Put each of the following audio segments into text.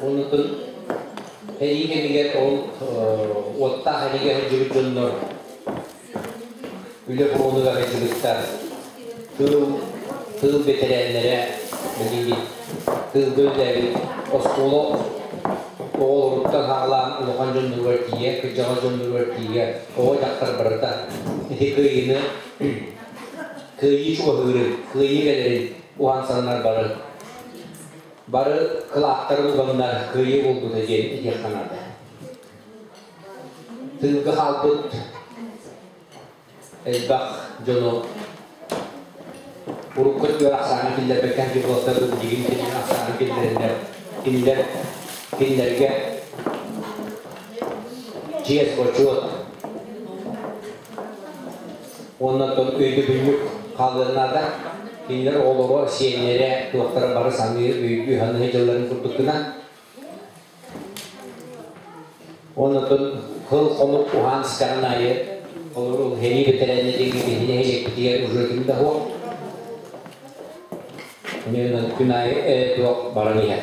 Оннукун сэрии кэмигэр ол уоттаах эһиги сылдьыбыт дьоннор үлэ буолуга сылдьыбыттар. Тыыл, тыыл бэтэрээннэрэ билигин тыылга үллээбит оскуола оҕолоруттан саҕалаан улахан дьонноругар тиийэ, кырдьаҕас дьонноругар тиийэ оҕо дьахтар барыта ити кыайыыны кыайыы чугаһыырын, кыайыы кэлэрин уһансаннар бары Бары кылааттарын ыланнар кыайыы буолбута диэн этиэххэ наада. Тыылга хаалбыт элбэх дьону урукку өттүгэр ахсаана киллэрбэккэ дьыллаттар дьигин кэннин ахсаана киллэриллэр кинилэр кинилэргэ чиэс-бочуот Уонна өйдөбүнньүк хаалыаннаата. Кинилэр оҕолоро, сиэннэрэ, туохтара бары саныы, өйдүү-саныы дьылларын курдук гына. Уонна кыл хонук уһаанскаҕын айы, холору херии бэтэрээннэ диэки киһини нэһилиэкпитигэр уже ким да хуох. Онньынан күн аайы ээ туох баран иһэр.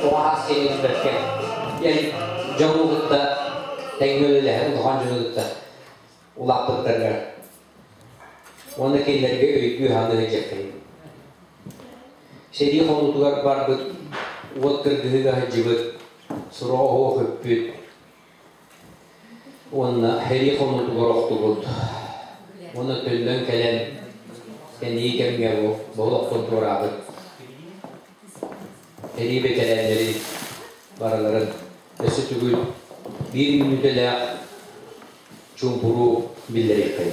куһаҕас кэми түспэккэ диэн дьону кытта тэҥҥэ үлэлэһэн улахан дьону кытта улааппыттарга уонна кинилэргэ өйдүү-саныы сылдьаккын. Сэрии хонуутугар барбыт уот кыргыһыыга сылдьыбыт, суроо оһуох үппүт, Уонна эһиги хомуутугар охтубут уонна төннөн кэлэн кэнийи кэмҥэ бу олохпут туораабыт эрии бэтэрээннэри барыларын өссө түгүл биир мүнүүтэлээх чуумпуруу биллэриэххэй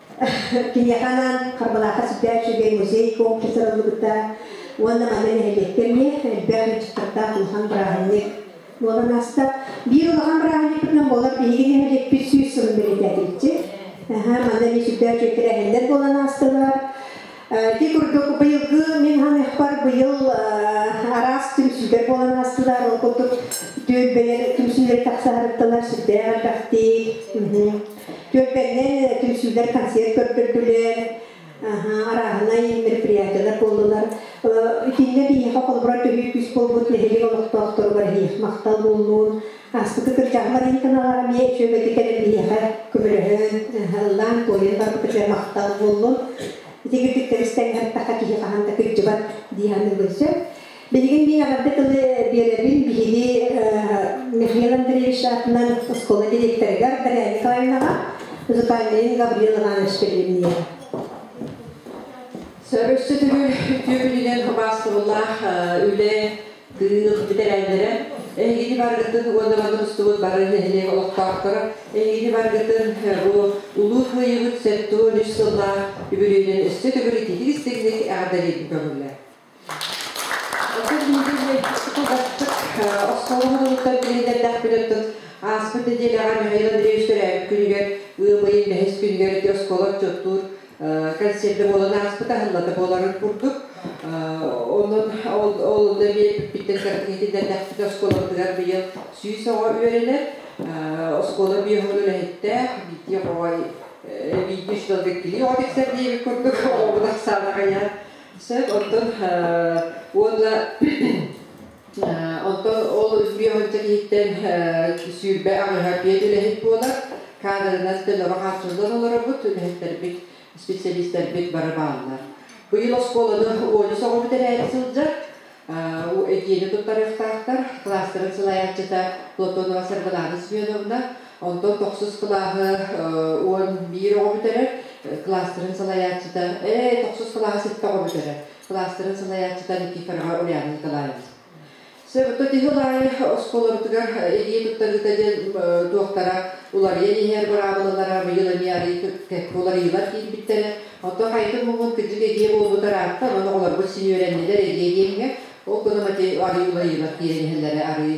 Киниэхэ анаан Харбалаахха сүрдээх үчүгэй музей-куоҥ кыттарыллыбыта уонна манна нэһилиэктэр иһин элбэх ыалдьыттардаах улахан бырааһынньык буолан ааста. Биир улахан бырааһынньыкпытынан болар биһиги нэһилиэкпит сүүс сылын бэлиэтээтилэр. Манна эмиэ сүрдээх үтүө тэрээһиннэр буолан аастылар. Ити курдук быйылгы мин ханыахпар быйыл араас түмсүүлэр буолан астылар. Ол курдук түөлбэлэр түмсүүлэри тахсаһарыттанар сүрдээх элбэхтик. Түөлбэннэн түмсүүлэр концерт көрдөрдүлэр. арааһынай мероприятиялар буоллулар. Итиннэ биһиэхэ холобура төһүү күүс буолбут нэһилик олохтоохторугар махтал буоллун. Ааспыты кырдьаҕаларыын кынаҕа эмиэ сүөгэти кэлэн биһиэхэ көмөлөһөн, ыллаан туойан барбыта үчүгэй махтал буоллун. Ити үрдүктэбис тэҥҥэ хаттаха киһи хаһан да кыддьыбат дии саныыбын сөп. Билигин мин аҕырды тылы биэрэбин биһиги Михаил Андреевич аатынан оскуола директорыгар Дарья Николаевнаҕа, музыкальнайын Гаврил Иванович Пелевниеҕа. Сөр өссө төгүл үтүө күнүнэн хабаастыбылаах үлэ Кыык бүтэрэллэрэ, эһигини баргытын уонна тустубут бары нэһилиэк олохтоохторо, эһигини баргытын бу улуу кыайыыбыт сэттэ уон үс сыллаах үбүлүөйүнэн өссө төгүрүтиитик истиҥник эҕэрдэлиибин көҕүллэр. Оттон оскуолабытыттан туруттан билиллэрдэхпититтэн ааспыт нэдиэлэҕэ Михаил Андреевич төрөөбүт күнүгэр ыам ыйын бэһис күнүгэр ити оскуола отчуоттуур концерта буолан ааспыт аһыллата буоларын курдук. Онон ол Нөмиэр бүппүттэн итиннэрдэхпит оскуолабытыгар быйыл сүүс оҕо үөрэнэр. Оскуола биоһун үлэһиттэ биирдии оҕоҕой биирдии үс далга килии оҕо тиксэр диэбит курдук оҕобут ахсаана хайа сөп. Оттон уонна Оттон ол үс сылдьар иһиттэн сүүрбэ аҕыһа пиэт үлэһит буолар. Каадырынан төлөҕө хааччыллан олоробут. Үлэһиттэрбит, специалистарбыт бары бааллар. Быйыл оскуоланы уону соҕурбут эрээри сылдьар. Этиини туттарыахтаахтар. Кылаастарын салайааччыта Платонова Саргылаана Семеновна. Онтон тохсус кылааһы уон биир оҕо бүтэрэр. Кылаастарын салайааччыта, э, тохсус кылааһы сэттэ оҕо бүтэрэр. Кылаастарын салайааччыта Никифорова Ульяна Николаевна. Төтүһүл аайы оскуолабытыгар илии туттарыыта диэн туохтара уларыйан иһэр быраабылалара быйыл эмиэ арыый уларыйыылар киирбиттэрэ. Оттон хайытын муҥун кырдьык эдьиийэ буолбута ыраатта, ону оҕолорбут син үөрэннилэр эдьиийэ диэмҥэ, ол гынан арыый уларыйыылар киирэн иһэллэрэ арыый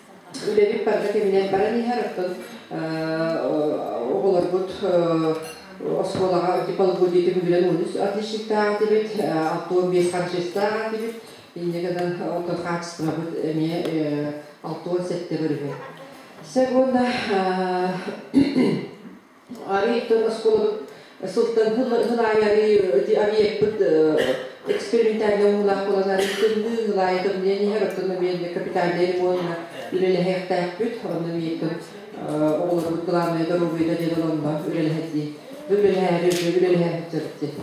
Үлэбин парга кэминэн баран иһэр, оттон оҕолорбут оскуолаҕа дипломбут диэтим бүтүнэн он үс отличниктаах этибит, алта он бес харчыстаах этибит. Инньэ гынан оттон хаачыстыбабыт эмиэ алта он сэттэ бар үһү. Сөп уонна Арыы иттэн оскуолабыт сылтан хыл аайы арыы объекпыт экспериментальнай ууһулаах буолан арыы тымныы хыл аайы тымныйан иһэр оттон биэннэ капитальдай региона үлэлэһиэхтээхпит онно бииртэн оҕолорбут главное доруобуйа диэн ыланна үлэлэһэтии үлэлэһээри үлэлэһээхит сабыт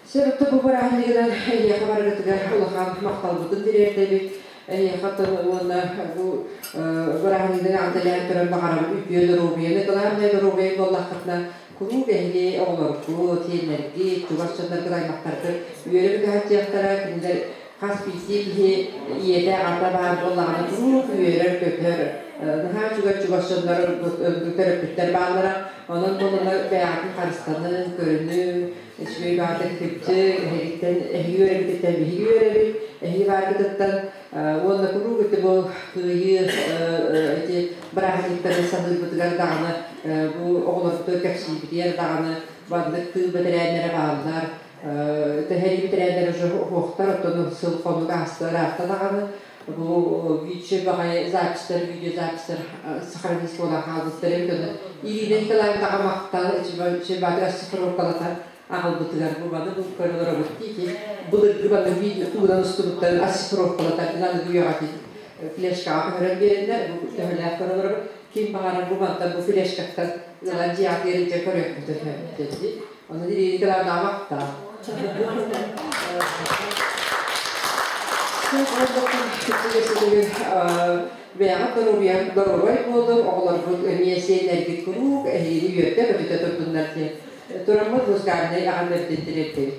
Сөрүктэ бу бырааһынньыгынан эһиэхэ барыгытыгар улахан махталбытын тириэрдэбит. Эһиэхэ тыл уонна бу бырааһынньыгын аантэлээн көрөн баҕарабын үтүө доруобуйаны, главное доруобуйа буоллаххытына, куруук эһиги оҕолоргут, сиэннэргит, чугас дьонноргут, аймахтаргыт үөрэн кыһаччыахтара. Кинилэр хас биирдии киһи ийэтэ, аҕата баар буоллаҕына куруук үөрэр-көтөр, наһаа үчүгэй чугас дьонноргут, төрөппүттэр бааллара. Онон-монунан бэйэҕитин харыстаныҥ, көрүнүҥ, Үчүгэй баатыр күччү, эһигиттэн эһиги үөрэбититтэн биһиги үөрэбит, эһиги баатытыттан уонна куруук ити бу кыайыы эти бырааһынньыктары саныырбытыгар даҕаны бу оҕолорбутугар кэпсиибитигэр даҕаны маннык тыыл бэтэрээннэрэ бааллар, тэһэрии бэтэрээннэрэ уже оһуохтар, оттон сыл-хонук ааста ыраахта даҕаны Бу виче баҕайы запистар, видеозапистар сохранились-буолан хаалбыттарын көрөн, илиинэн кылаандаҕа махтал, чебатыр ассифровкалата аҕалбытыгар бу маны бу көрө олоробут диики, былыргы маны видео уунан устубуттарын ассифровкалата налыгы үйэҕэ флешкаҕа көһөрөн биэрэллэр, бу төһөлөөх көрө олоробут. ким баҕарар бу мантан бу флешкаттан ылан дьиэҕэ ыалдьа көрүөхпүтэ сөбүтэ дии. Ону дириэри кылаабаҕа ахтаҕын. Түгэр бэйэҕит доруобуйаҥ доруобай буоллун, оҕолоргут эмиэ сиэннэргит куруук эһигини үөрдэ-көтүтэ турдуннар диэн тураммыт Лузгарнай аҕам эрдин тириэрдэбит.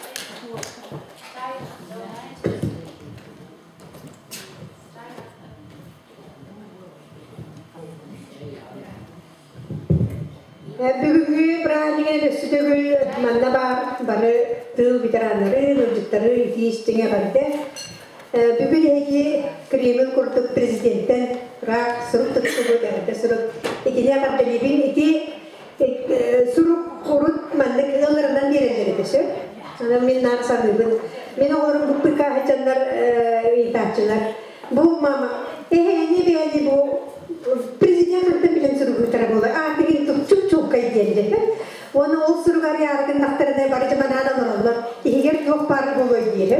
Бүгүҥҥү праздник сүтөгүл манна баар бары тыл ветераннары, ыалдьыттары итии-истиҥэ бэрдэ. Бүгүн эһиги Кремль курдук президенттен ыраах сурук туттубут, эрдэ сурук итини тардыһыыбын. Ити сурук урут маннык ыалларынан биэрэллэр этэ сөп. Сонун мин наар саныыбын. Мин оҕолорум быппыкааһы дьаннар ыйытааччылар. Бу мама, эһэни бэйэни бу президентын билин суругуйтара болой. Аатыгын тупчук чулкай диэллэр. Оны ол суругар яаргын тахтарына бары жаманаан олороллор. Иһигэр туох баар болой диэһэ.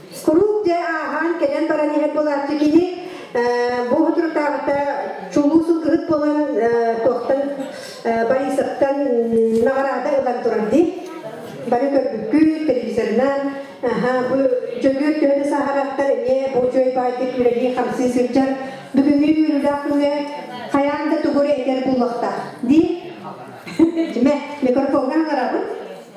Куруук дьэ ааһан кэлэн баран иһэр буолааччы киһи бу сотрутааҕыта чулуу сылгыһыт буолан туохтан Борисовтан наҕараада ылан турар дии. Бары көрбүккүт, телевизорынан, аха, бу Дьөгүөр төһө да саһараттар эмиэ бу үчүгэй баайтык үлэлии-хамсыы сылдьар. Бүгүҥҥү үөрүүлээх күҥҥэ хайаан да тугу этэр буолуохтаах дии. Дьиме, микрофоҥҥа аҕарабын.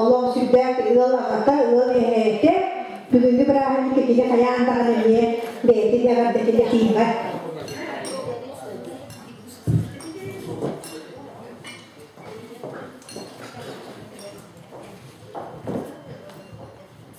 Олох сүрдээх ыал аҕата, ыал иһэйэтэ, бүгүҥҥү бырааһынньык итини хайаан даҕаны эмиэ бэйэтин эҕэрдэтин этиимэт.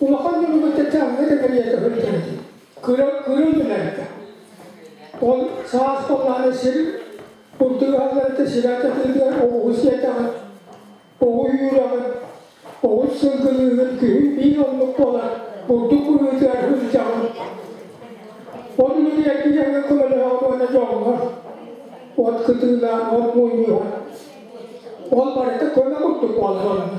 Улахан дьонугуттан таҥҥа тэмирийэ көһүлдэр. Кырыл түһэрдэ. Ол саас боллааны сир курдурааларыта сирэ тытыыгар оҕуһу сиэтэҕин, оҕу үүрэҕин, оҕус сылгылыыһын күһүн биир оннук буолар бурдук быһыытыгар сылдьаҕын. Ол үлэни эргийэҥҥэ көмөлөһөҕүн уонна дьоҥҥор, от кытыылаах, от мунньуһар. Ол барыта көмө курдук буолар онно.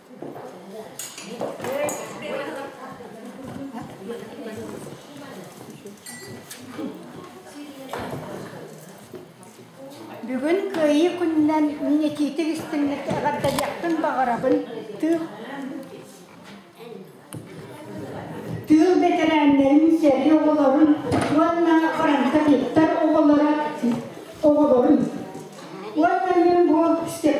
Бүгүн Кыайыы күнүнэн мин этиитик истиҥнэки эҕэрдэлиэхпин баҕарабын тыыл тыыл бэтэрээннэрин сэргэ оҕолорун уонна парантатиттар оҕолоро оҕолорун уонна мин бу Степан